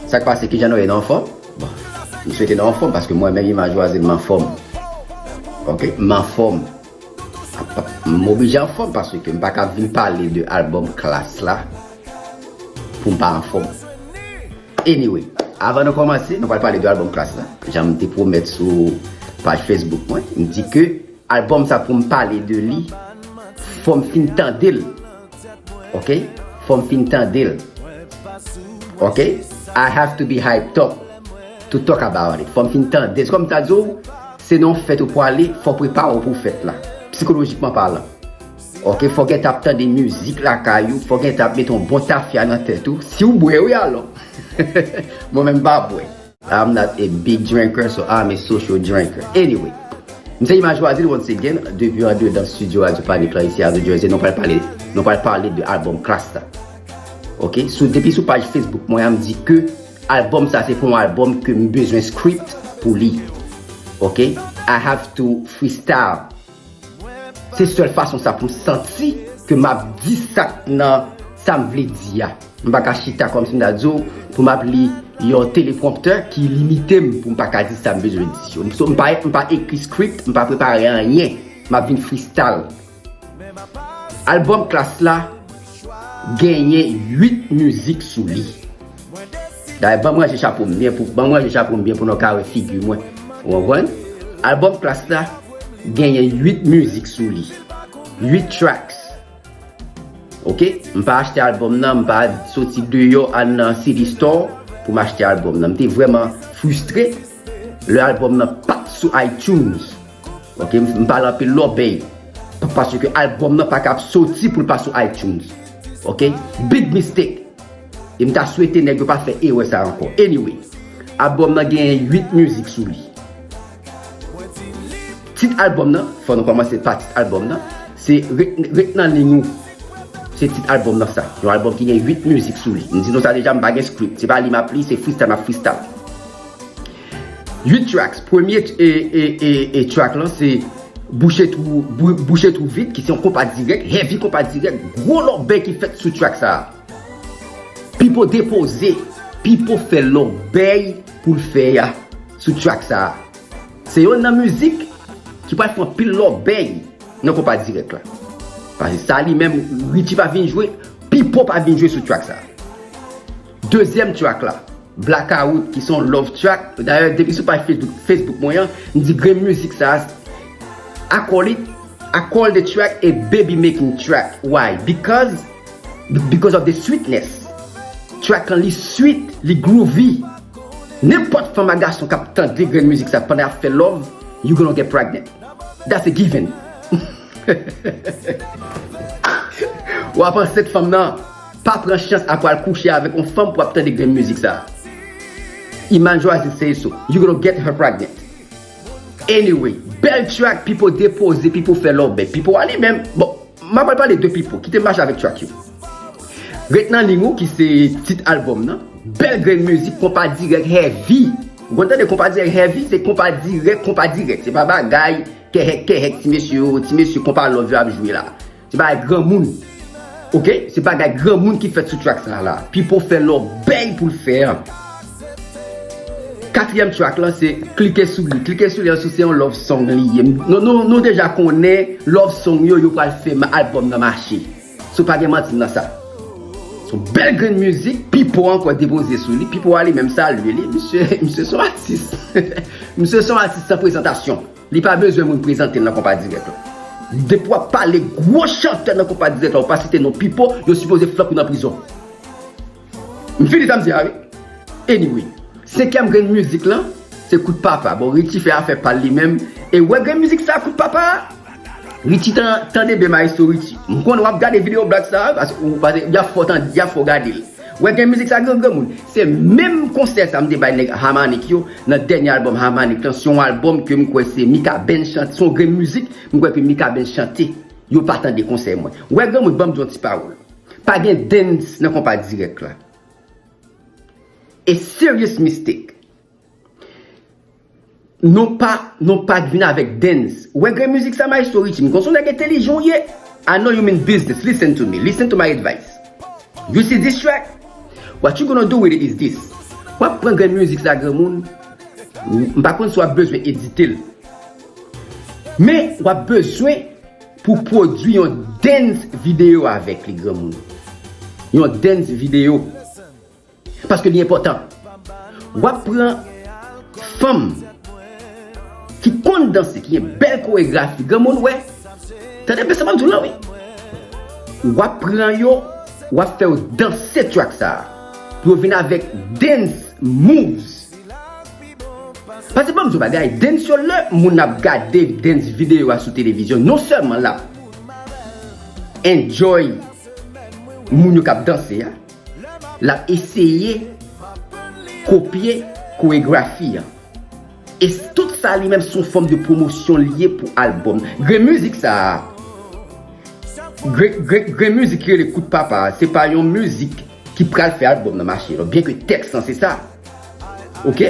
Sak pase kijan nou ye nou anfòm bon m swete nou anfòm paske m wè menm imaj ou a se m anfòm ok m anfòm m oblije anfòm paske m paka vin pale de album klass la pou m pa anfòm anyway avan nou kòmanse nou pral pale de album klass la janm te pwomèt sou paj facebook mwen m di ke Album sa poum pale de li fòm fin tandel ok fòm fin tandel ok I have to be hyped up to talk about it fòm fin tandel se kòm ta di w se nan yon fèt ou pwale fò prepare w pou fèt la psikolojikman palan ok fò gen tan ap tande mizik lakay ou fò gen tan ap mete yon bon tafya nan tèt ou si w bwè wi alò mwen menm m pa bwè. I'm not a big drinker so I'm a social drinker Anyway M se Imaj Loisir once again depi andedan studio Radio Panic la isi a New Jersey Nou pral pale Nou pral pale de album Klass la Ok sou depi sou paj Facebook mwen an m di ke album sa se pou yon album ke m bezwen script pou li Ok I have to freestyle Se sèl fason sa poum santi ke map di sak nan sam vle di a. M pa ka chita kòm si m ta di w poum ap li yon telepromptè ki limite m poum pa ka di sam bezwen di yo. So m pa ekri script, m pa prepare anyen, map vin freestyle. Album Klass la genyen 8 mizik sou li. Dayè banm ranje chapo m byen pou banm ranje chapo m byen pou nou ka wè figi mwen ou konprann album klass la genyen 8 mizik sou li 8 tracks ok m pa achte album nan m pa soti deyò al nan CD store pou m achte album nan m te vrèman fristre lè album nan pat sou itunes ok m pale anpil lòbèy paske album nan paka ap soti pou l pa sou itunes ok big mistake. E m ta swete nèg yo pa fè erè sa ankò. Anyway, albòm nan genyen 8 mizik sou li. Tit albòm nan, fò nou kòmanse pa tit albòm nan, se Ret nan liy ou. Se tit albòm nan sa. Yon albòm ki gen 8 mizik sou li. M di nou sa deja m pa gen script. Se pa li m ap li, se freestyle m ap freestyle. 8 tracks. Premye track lan se Bouche twou, Bouche twou vid ki se yon konpa dirèk, heavy konpa dirèk, gwo lòbèy ki fèt sou track sa a. Pipo depoze, Pipo fè lòbèy pou l fè a sou track sa a. Se yonn nan mizik ki pral fè anpil lòbèy nan Konpa Dirèk la. Pase sa li menm Richie pa vin jwe, Pipo pa vin jwe sou track sa a. Dezyèm track la, Blakawout ki se yon love track, dayè depi sou paj Facebook mwen an, m di grenn mizik sa a, I call it, I call the track a baby making track, why? Because. Because of the sweetness Track lan li sweet, li groovy Nenpòt fanm a gason kap tande grenn mizik sa pandan yap fè love you gonna get pregnant That's a given Wap ansent fanm nan Pa pran chans a pou al kouche avèk yon fanm pou ap tande grenn mizik sa Iman Joazy say so You gonna get her pregnant Anyway, bèl track pipo depoze, pipo fè love Pipo a li menm, bon. Map al pale de pipo kite mache avèk track yo Ret nan ligne ou ki se tit album nan. Bèl grenn mizik konpa dirèk heavy ou konn tande konpa dirèk heavy se konpa dirèk konpa dirèk se pa bagay kèhèk kèhèk ti mesye oo ti mesye konpa love yo ap jwe la se bagay granmoun ok se bagay granmoun ki fèt sou track sa la pipo fè lòbèy poul fè an. Katriyèm track lan se klike sou li klike sou li an sou se yon love song li ye nou deja konnen love song yo yo pral fè album nan mache so pa gen manti nan sa son bèl grenn mizik pipo ankò depoze sou li pipo a li menm salye li misye misye son atis misye son atis san prezantasyon li pa bezwen moun prezantel nan konpa dirèk la depi wap pale gwo chantè nan konpa dirèk la ou pa site non pipo yo sipoze flank ou nan prizon. M fini sa m di a wi. Anyway, senkyèm grenn mizik lan se kout papa. Bon Richie fè afè pal li menm e wè grenn mizik sa kout papa a. Richie tande byen maestro Richie. M konnen wap gade video blag sa a paske yap fè w gade l. Wè grenn mizik sa granmoun. Se menm konsèy sa m te bay nèg Harmanik yo nan dènye album Harmanik lan. Se yon album ke m kwè se Mikaben chante. Se yon grenn mizik m kwè ke Mikaben chante. Yo pa tande konsèy mwen. Wè granmoun banm di yon ti pawòl. Pa gen dance nan konpa direct la. A serious mistake. Non pa, non pa k vin avèk dance. Ou wè gen mizik sa maestro Richie, m konn son nèg entelijan w ye. I know you mean business, listen to me, listen to my advice. You see this track? What you gonna do with it is this, w ap pran grenn mizik sa granmoun, m pa konn si w ap bezwen edite l, men w ap bezwen. Pou pwodwi yon dance video avèk li granmoun. Yon dance video. Paske li enpòtan. Wap pran fanm ki konn danse, ki gen bèl koregrafi granmoun wè. Tande byen sa map diw la wi. Wap pran yo, wap fè yo danse track sa. Pou yo vin avèk dance moves. Pase banm yon bagay, dance yo lè moun ap gade dance video a sou televizyon non sèlman lap enjoy moun yo kap danse a, lap eseye kopye koregrafi an. E tout sa li menm son fòm de pwomosyon li ye pou albòm. Grenn mizik sa a, grenn mizik ki rele kout papa a, se pa yon mizik. ki pral fè album nan mache non byen ke tèks lan se sa ok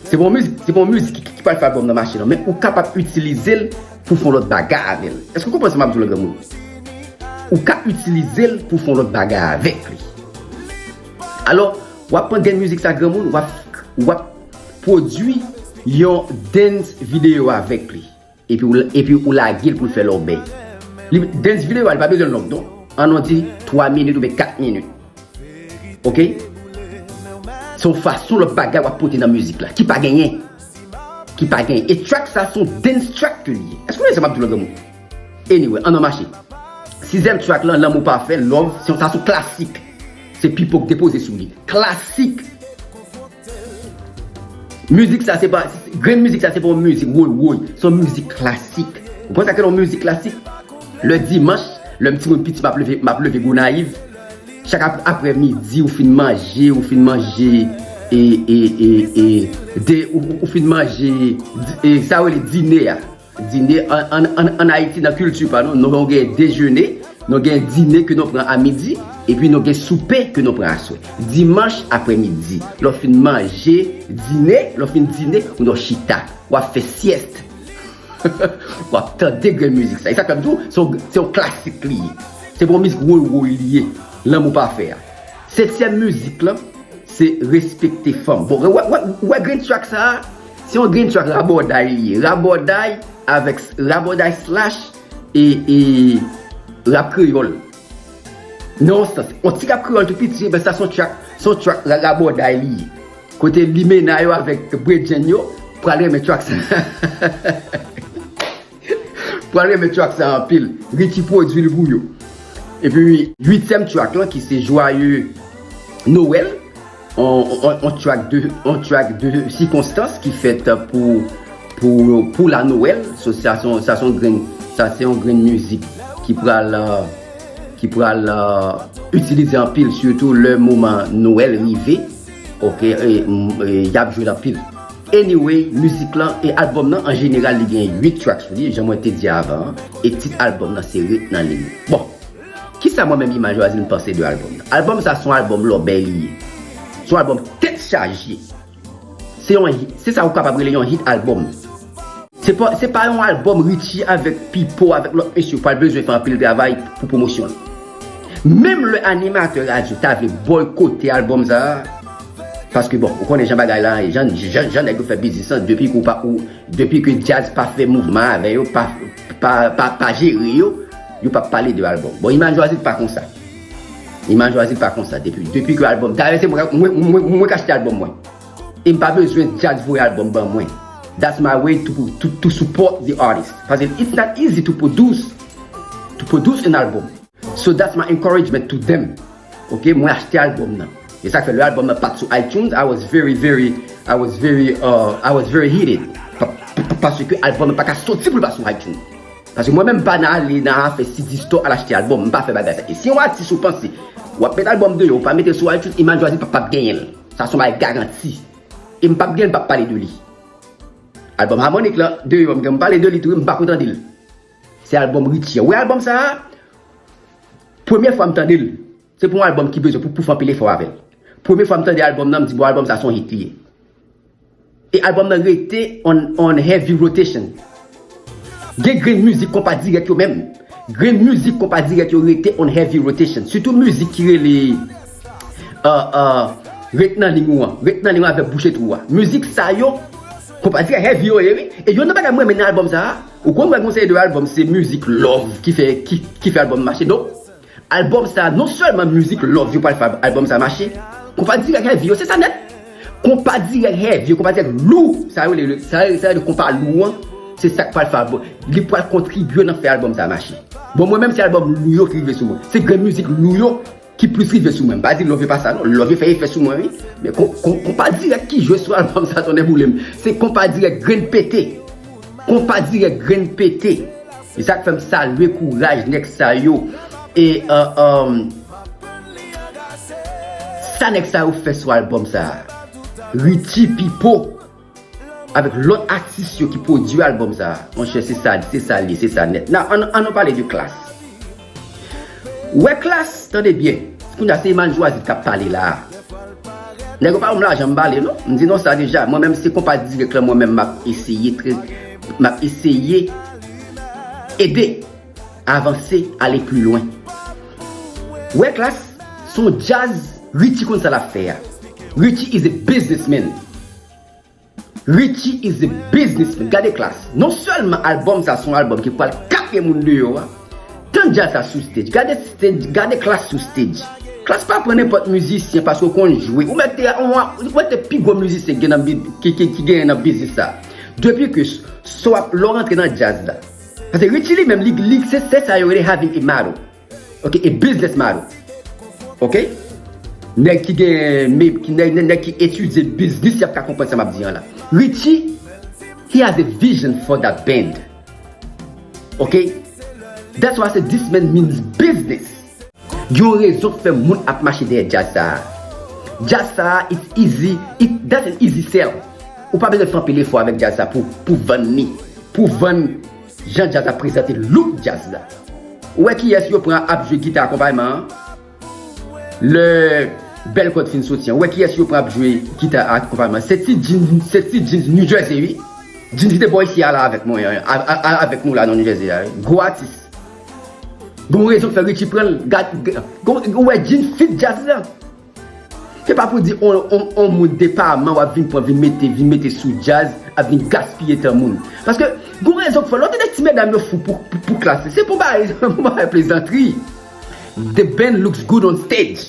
se pa yon mizik se pa yon mizik ki pral fè album nan mache non men ou kapab itilizel pou fon lòt baga avèl èske ou konprann sa map diw la granmoun ou ka itilizel pou fon lòt baga avèk li alò wap pran den mizik sa granmoun wap wap pwodwi yon dance video avèk li Epi ou lagel poul fè lòbèy. Dance video a li pa bezwen long non. An nou di 3 minit oubyen 4 minit. Ok. Se yon fason lòt bagay wap pote nan mizik la ki pa genyen. Ki pa genyen. E track sa son dance track ke li ye. Èske ou konprann sa map di w la granmoun? Anyway an nou mache. Sizyèm track lan lanmou pafè, love, sa son klasik. Se Pipo ki depoze sou li. Klasik! Mizik sa se pa, grenn mizik sa se pa yon mizik woy woy, se yon mizik klasik. Ou konn sa ki rele yon mizik klasik? Lè dimanch, lè m ti moun piti m ap leve, m ap leve Gonayiv, chak aprè midi ou fin manje, ou fin manje e e e e de ou fin manje sa yo rele dine a. Dine an Ayiti nan kilti pa nou, nou gen dejene, nou gen dine ke nou pran a midi, epi nou gen soupe ke nou pran aswè. Dimanch apre midi, lè w fin manje, dine, lè w fin dine, ou dwe chita, w ap fè syèst, w ap tande grenn mizik sa. E sa k fè m di w, se yon klasik li ye. Se pa yon mizik woy woy li ye, Lanmou Pafè a. Setyèm mizik lan, se Respekte Fanm. Bon, wè grenn track sa a? Se yon drinks ak rabòday li ye. Rabòday avèk, rabòday slash e, e rap kreyòl. Nan yon sans. Yon ti rap kreyòl tou piti epi sa son track, son track rabòday li ye. Kote limena yo avèk bredjenn yo pral renmen track sa. Pral renmen track sa anpil. Richie pwodwil pou yo. Epi 8 tièm track lan ki se Joyeux Noël on track de on track de sikonstans ki fèt pou pou la Noël so sa son sa son grenn sa se yon grenn mizik ki pral ki pral itilize anpil sitou lè moman Noël rive. Ok yap jwel anpil. Anyway mizik lan e album nan an jeneral li gen 8 track sou li jan mwen te di avan an e tit album nan se ret nan liy ou. Bon kisa mwen menm Imaj Razil m panse de album nan. Album sa son album lòbèy li ye. Son album tèt chaje. Se yon hit se sa ou kapab rele yon hit album. Se pa yon album Richie avèk Pipo avèk lòt mesye pral bezwen fè anpil travay pou pwomosyon l. Menm lè animatè radyo ta vle bòykote album sa a, paske bon, ou konnen jan bagay la ye, jan nèg yo fè biznis lan, depi ke ou pa, depi ke djaz pa fè mouvman avè yo, pa jere yo, yo pap pale de album. Bon Iman Jwazi pa konsa. Iman Jwazi pa konsa depi ke album, dayè se mwen, mwen k achte album mwen. Em pa bezwen djazz voye album ban mwen that's my way to to support the artist paske it's not easy to produce to produce an album so that's my encouragement to them ok mwen achte album nan e sak fè lè album nan pat sou itunes I was very very I was very uh I was very heated paske album nan paka soti pou l pa sou itunes paske mwen menm m pa nan ale nan afè cd store al achte album m pa fè bagay sa e si yon atis ou panse wap met album deyò ou pa metel sou itunes Iman Jwazi pap genyen l. Sa son bagay garanti. E m pap gen pap pale de li. Album harmonik lan deyò m gen m pale de li tou wi m pako tande l. Se album Richie a. Ou wè album sa a? Premye fwa m tande l. Se pou yon album ki bezwen pou pouf anpil efò avè l. Premye fwa m tande album nan m di bon album sa son hit li ye. E album nan rete on heavy rotation. Gen grenn mizik konpa dirèk yo menm, grenn mizik konpa dirèk yo rete on heavy rotation. Sitou mizik ki rele Ret nan liy ou an, Ret nan liy ou an avèk Bouche twou a. Mizik sa yo, konpa dirèk heavy yo ye wi. E yon nan bagay mwen renmen nan album sa a, ou konn wè gen yon seri de album se mizik love ki fè album mache. Donk, Album sa non selman mizik love yo pral fè album sa mache, konpa dirèk heavy yo se sa nèt, konpa dirèk heavy yo konpa dirèk lou sa yo rele sa yo rele konpa lou an se sak pral fè album li pral kontribye nan fè album sa mache bon mwen menm se album lou yo ki rive sou mwen se grenn mizik lou yo ki plis rive sou mwen m pa di love yo pa sa non love yo fè efè sou mwen wi men konpa dirèk ki jwe sou album sa tonnè boulem se konpa dirèk grenn pete konpa dirèk grenn pete. E sak fèm salye kouraj nèg sa yo e sa nèg sa yo fè sou album sa Richie, Pipo avèk lòt atis yo ki pwodwi album sa monchè se sa se sa li ye se sa nèt nan an nou pale de klass. Wè klass tande byen kounya se Eman Jwazi kap pale la a nèg yo pa banm lajan m pale non m di non sa deja mwen menm se konpa dirèk lan mwen menm map eseye trè map eseye ede avanse ale pli lwen wè klass son djaz Richie konn sa lap fè a Richie is a business man. Richie is a businessman gade klass non sèlman album sa son album ki pwal kase moun deyò a Tan djazz sa sou stage gade stage gade klass sou stage klass pa pran nenpòt mizisyen paske ou konn jwe ou mèt ou mèt te pi gwo mizisyen ki genyen nan biznis sa depi ke lè w rantre nan djazz la paske Richie li menm li se sa yo rele having a motto. Ok e business man ok nèg ki gen nèg ki etidye business yap ka konprann sa map di an la Richie he has a vision for that band ok that's why I say this man means business. Gen yon rezon k fè moun ap mache dèyè djaz sa a. Djaz sa a it's easy it that's an easy sell ou pa bezwen fè anpil efò avèk djaz sa pou vann li pou vann Jan djaz ap prezante look djaz la. Ou wè kiyès yo pran ap jwe gita akonpayman an lè bèl kòd fin soti an. Ou wè kiyès yo pran ap jwe gita akonpayman an. Se ti Jeans, se ti Jeans New Jersey wi. Jeans ki te bò isi a la avèk mwen an, a avèk nou la nan New Jersey a wi. Gwo atis. Gon rezon k fè Richie pran l. Gad, ou wè Jeans fit djaz la. Se pa pou di on moun depaman wap vin pran vin mete vin mete sou djaz ap vin gaspiye tan moun paske gon rezon k fè l wap tande ti medam yo fou pou klass se pou bay pou bay plezantri the band looks good on stage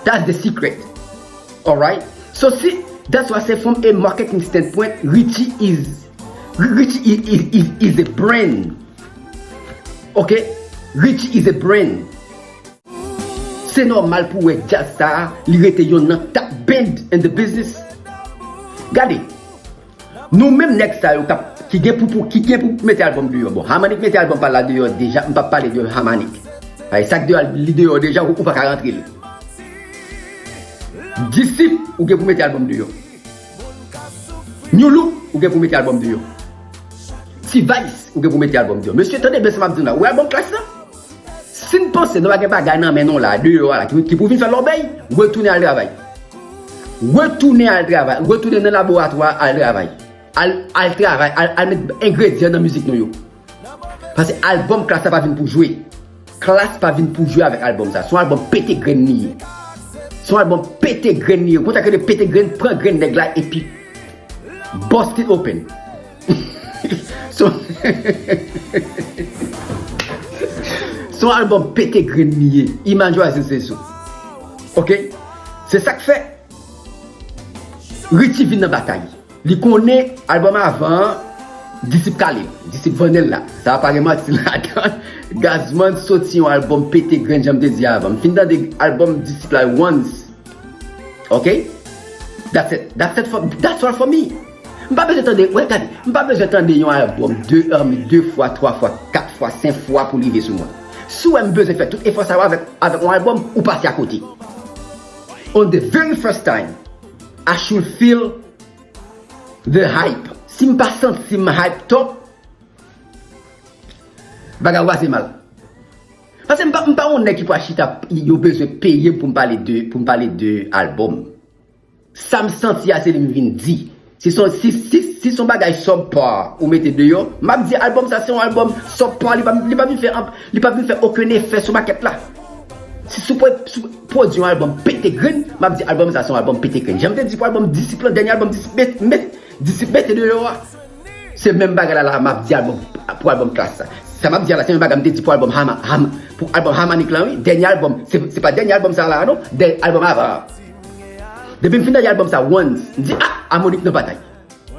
that's the secret alright so si that's why I say from a marketing standpoint Richie is Richie is is a brand ok Richie is a brand. Se nòmal pou wè djaz sa a li rete yonn nan top band in the business. Gade, nou menm nèg sa yo kap ki gen pou pou ki gen pou mete album deyò bon Hamanik mete album pal la deyò deja m pap pale de Hamanik paske sak deyò li deyò deja ou paka rantre l Disip ou gen pou mete album deyò Nu Look ou gen pou mete album deyò T-vice ou gen pou mete album deyò mesye tande byen sa map di nou la ou wè album Klass la? Si n panse nou pa gen bagay nan men nou la deyò a la ki pou vin fè lòbèy, retounen al travay. Retounen al travay, retounen nan laboratwa a al travay. Al al travay, al al met engredyan nan mizik nou yo. Pase albòm Klass la pa vin pou jwe. Klass pa vin pou jwe avèk albòm sa. Se yon albòm pete grenn li ye. Se yon albòm pete grenn li ye. Ou konn sa k rele pete grenn? Pran grenn nèg la epi bust it open. Son album pete grenn li ye Imaj yo a se se sou Ok Se sak fè Richie vin nan batay Li konnen album avan an Disip kale Disip vannenl la Sa pa gen manti ladann Gazman soti yon album pete grenn janm te di avan M fin tande album disip la once Ok That's it That's it for That's all for me. M pa bezwen tande, wè gade, m pa bezwen tande yon album de Hermie 2 fwa, 3 fwa, 4 fwa, 5 fwa pou li rive sou mwen. Si w wè m bezwen fè tout efò sa yo avèk avèk yon album, ou pase akote. On the very first time, I should feel the hype. Si m pa santi m hype top, bagay yo pase mal. Pase m pa m pa yon nèg ki pral chita ap yo bezwen peye m pou m pale de pou m pale de album. Sam santi a se li m vin di. Si son si si si son bagay sub par ou mete deyò, map di album sa se yon album sub par li pa li pa vin fè anp li pa vin fè okenn efè sou makèt la. Si sou pwè sou pwodwi yon album pete grenn, map di album sa se yon album pete grenn. Janm te di pou album disip lan dènye album disip met met disip mete deyò a se menm bagay la la a map di album pou album klass la. Sa map di a la se menm bagay m te di pou album hama ham pou album hamanik lan wi dènye album se se pa dènye album sa la a non dènye album avan an. Depi m fin tande album sa once, m di ah Harmonik nan batay.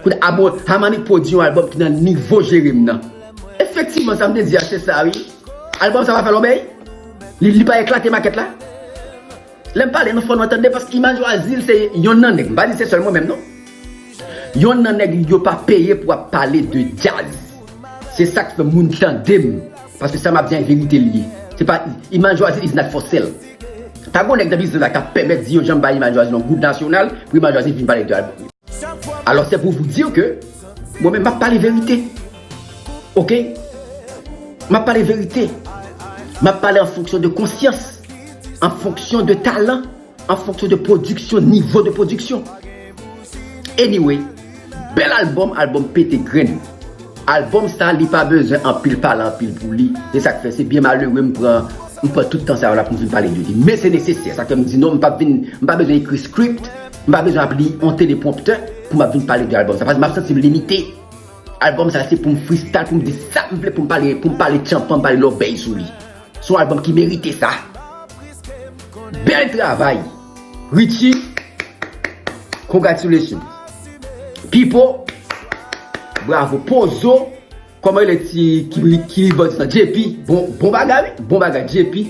Koulye a bon, Harmonik pwodi yon album ki nan nivo Jere m nan. Efektivman sa m te di a se sa wi. Album sa pa fè lòbèy. Li pa eklate makèt la. Lè m pale nou fò nou antann de paske Imaj Wa Zil se yonn nan nèg, m pa di se sèl mwen menm non. Yonn nan nèg yo pa peye pou ap pale de djaz. Se sa k fè moun tande m. Paske sa m ap di a e verite l ye. Se pa Imaj Wa Zil is not for sale. Pa gon nèg nan biznis la kap pèmèt di yo janm ba Imaj Jwazi yon goud nasyonal pou Imaj Jwazi vin pale de album li. Alò se pou vou dir ke mwen menm map pale verite. Ok. Map pale verite. Map pale an fonksyon de konsyans, an fonksyon de talan, an fonksyon de pwodiksyon, nivo de pwodiksyon. Anyway. Bel album album pete grenn. Album sa li pa bezwen anpil pale anpil pou li se sak fè se byen malere m pran m pran tout tan sa yo la poum vin pale de li men se nesesè sak fè m di non m pap vin m pa bezwen ekri script m pa bezwen ap li on telepromptè poum ap vin pale de album sa paske map santim limite album sa se poum freestyle poum di sak m vle poum pale poum pale tchanpan pale lòbèy sou li. Son album ki merite sa. Bel travay. Richie congratulations. Pipo bravo. Pozo koman rele ti ki voice lan JP bon bagay wi bon bagay JP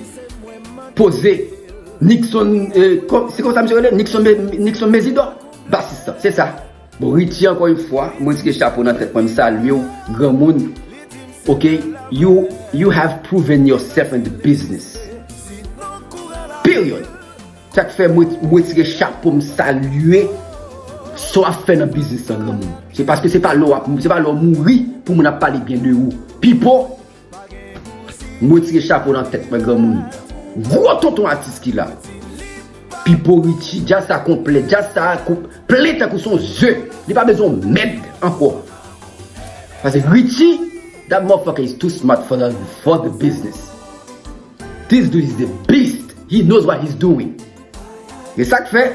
poze Nixon se konsa misye rele Nixon Nixon Mezidor bassiste lan se sa. Bon Richie ankò yon fwa mwen tire chapo nan tèt mwen m salye w granmoun ok you you have proven yourself in the business period sak fè mwen retire chapo m salye sa w ap fè nan business lan granmoun se paske se pa lè w ap se pa lè w mouri pou moun ap pale byen de ou Pipo M retire chapo nan tèt mwen granmoun gwo tonton atis ki la Pipo Richie djaz sa konplè djaz sa konp plen tankou son ze li pa bezwen mèd ankò pase Richie that motherfucker is too smart for the for the business this dude is a beast he knows what he's doing e sak fè.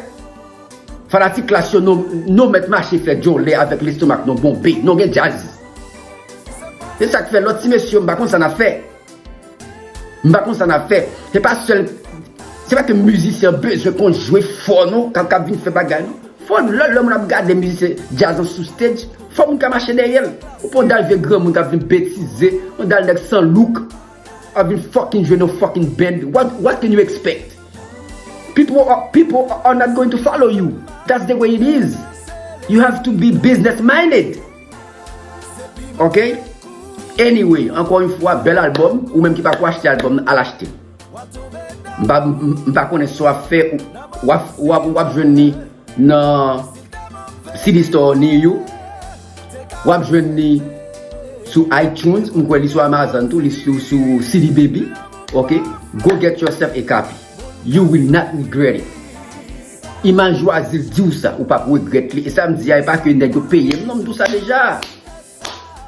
Fanatik klass yo nou met mache fè djòlè avèk lestomak nou bonbe, nou gen djazz. Se sak fè lòt ti mesye yo m pa konn sa nap fè. M pa konn sa nap fè. Se pa sèl se pa ke mizisyen an bezwen konn jwe fò non kap kap vin fè bagay non. Fò lè lè moun ap gade mizisyen djazz lan sou stage, fò moun ka mache dèyèl. Ou pa yon dal vye granmoun kap vin betize, yon dal nèg san look. I've been fucking jwe no fucking band what can you expect? People are not going to follow you that's the way it is you have to be business minded ok anyway ankò yon fwa bèl album ou menm ki pako achte album nan al achte m pa konnen sa wap fè wap jwenn ni nan CD store ni you. Wap jwenn li sou iTunes, m kwè li sou Amazon tou, li tou sou CD Baby ok, go get yourself a copy you will not regret it Imaj Wazil diw sa ou pap regrèt li, e sa m di a e pa ke nèg yo peyem non m di w sa deja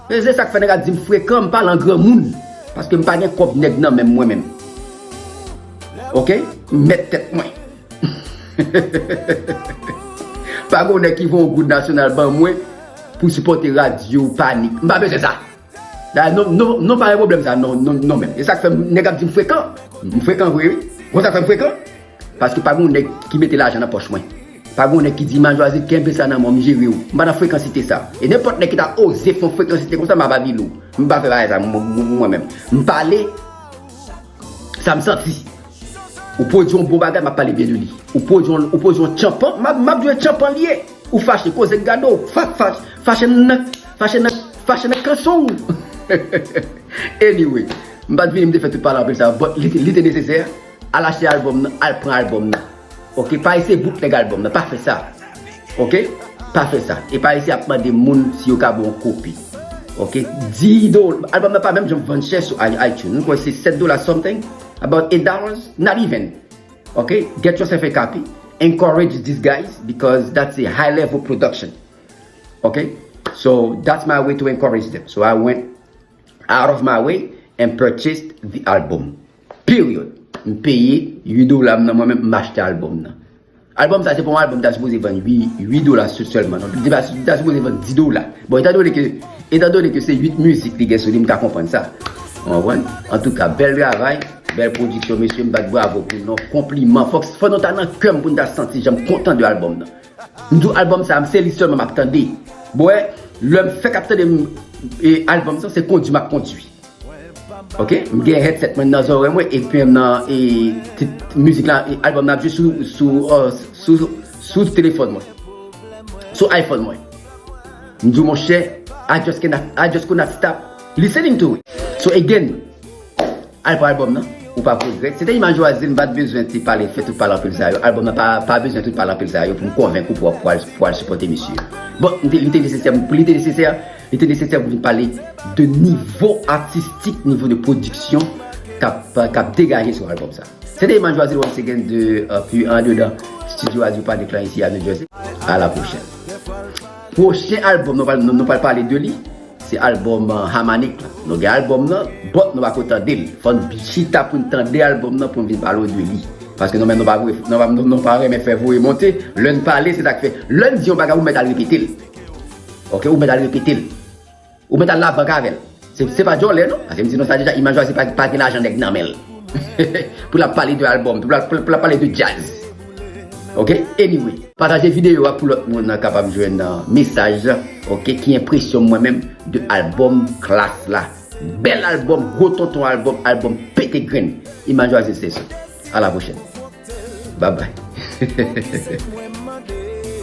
e se sak fè nèg ap dim frekan m pale an granmoun paske m pa gen kòb nèg nan menm mwen menm ok m mèt tèt mwen. Pa gon nèg ki voye yon goud nasyonal ban mwen pou sipòte radyo panik. M pa bezwen sa. Dayè non, non, non pa gen pwoblèm sa non, non, non menm. E sa k fè nèg ap di m frekan. M frekan vre wi. Konn sa k fè m frekan? Paske pa gon nèg ki mete lajan nan pòch mwen. Pa gon nèg ki di m a Jwaze kenbe sa nan men w m jere w. M pa nan frekansite sa. E nenpòt nèg ki ta oze fè yon frekansite konsa m ap avilou. M pa fè bagay sa mwen menm. M pale. Sa m santi. Ou pwodwi yon bon bagay, m ap pale byen de li. Ou pwodwi yon tchanpan, m ap di yo tchanpan li ye. Ou fache, koze k gade w. Fache nan, fache nan, fache nan kanson w. Anyway, m pa t vini m te fè tout palabre sa yo, but li te nesesè. Al achte albòm nan, al pran albòm nan. Ok pa ese bootleg album nan pa fe sa ok pa fe sa e pa ese ap mande moun si yo ka ba w yon kopi ok di do album nan pa menm janm vann chè sou itunes m kwè se 7 dola something about 8 dollars not even ok get yourself a copy encourage this guys because that's a high level production ok so that's my way to encourage them so I went out of my way and purchased the album. Period. M peye 8 dola m nan mwen menm m achte album nan. Album sa se pa yon album m ta sipoze vann 8 dola selman non. Li ta sipoze vann 10 dola. Bon etan done ke etan done ke se 8 mizik li gen sou li m ka konprann sa. Ou konprann? Antouka bèl travay, bèl pwodiksyon mesye m bat bravo pou nou. Konpliman. Fòk fò nou ta nan kè m pou n ta santi jan m kontan de album nan. M di w album sa se li selman m ap tande. Bon wè lè m fèk ap tande album sa se kondi m ap kondi. Ok m gen headset mwen nan zòrèy mwen e pen nan e mizik la e album nan ap jwe sou sou sou sou telefòn mwen sou iphone mwen m diw monchè I just cannot I just could not stop listening to it so again al pou album nan ou pap regrèt se te imaj ou a zen m pat bezwen te pale fè tout pale anpil sa yo album nan pa pa bezwen tout pale anpil sa yo pou m konvenk ou pou wap pou wal sipòte misye bon li te nesesè pou li te nesesè Li te nesesè pou nou pale de nivo atistik, nivo de pwodiksyon k ap degaje sou albòm sa. Se te Emmanuel Joazil once again de pu andedan Studio Radio Panic lan isi a New Jersey. A la pwochèn. Pwochen albòm nou pral nou pral pale de li, se albòm Hamanic lan. Nou gen albòm nan, but nou pako tande li. Fò n chita pou n tande albòm nan pou n vin pale w de li. Paske nou menm nou pa vwe nou pa renmen fè voye monte. Lè n pale se sa k fè. Lè n di yon bagay ou mèt al repete l. Ok ou met al repetel. Ou met al la bank avel. Se pa djole non. Pase m di nou sa deja Imajwazi pa gen lajan neg nan menl. Pou lap pale de album. Pou lap pale de jazz. Ok anyway. Pataje video a pou lot moun kapab jwenn mesaj la ok ki enpresyon mwen menm de album klass la. Bel album gwo tonton album album pete grenn. Imajwazi se sou. A la pwochèn. Babay.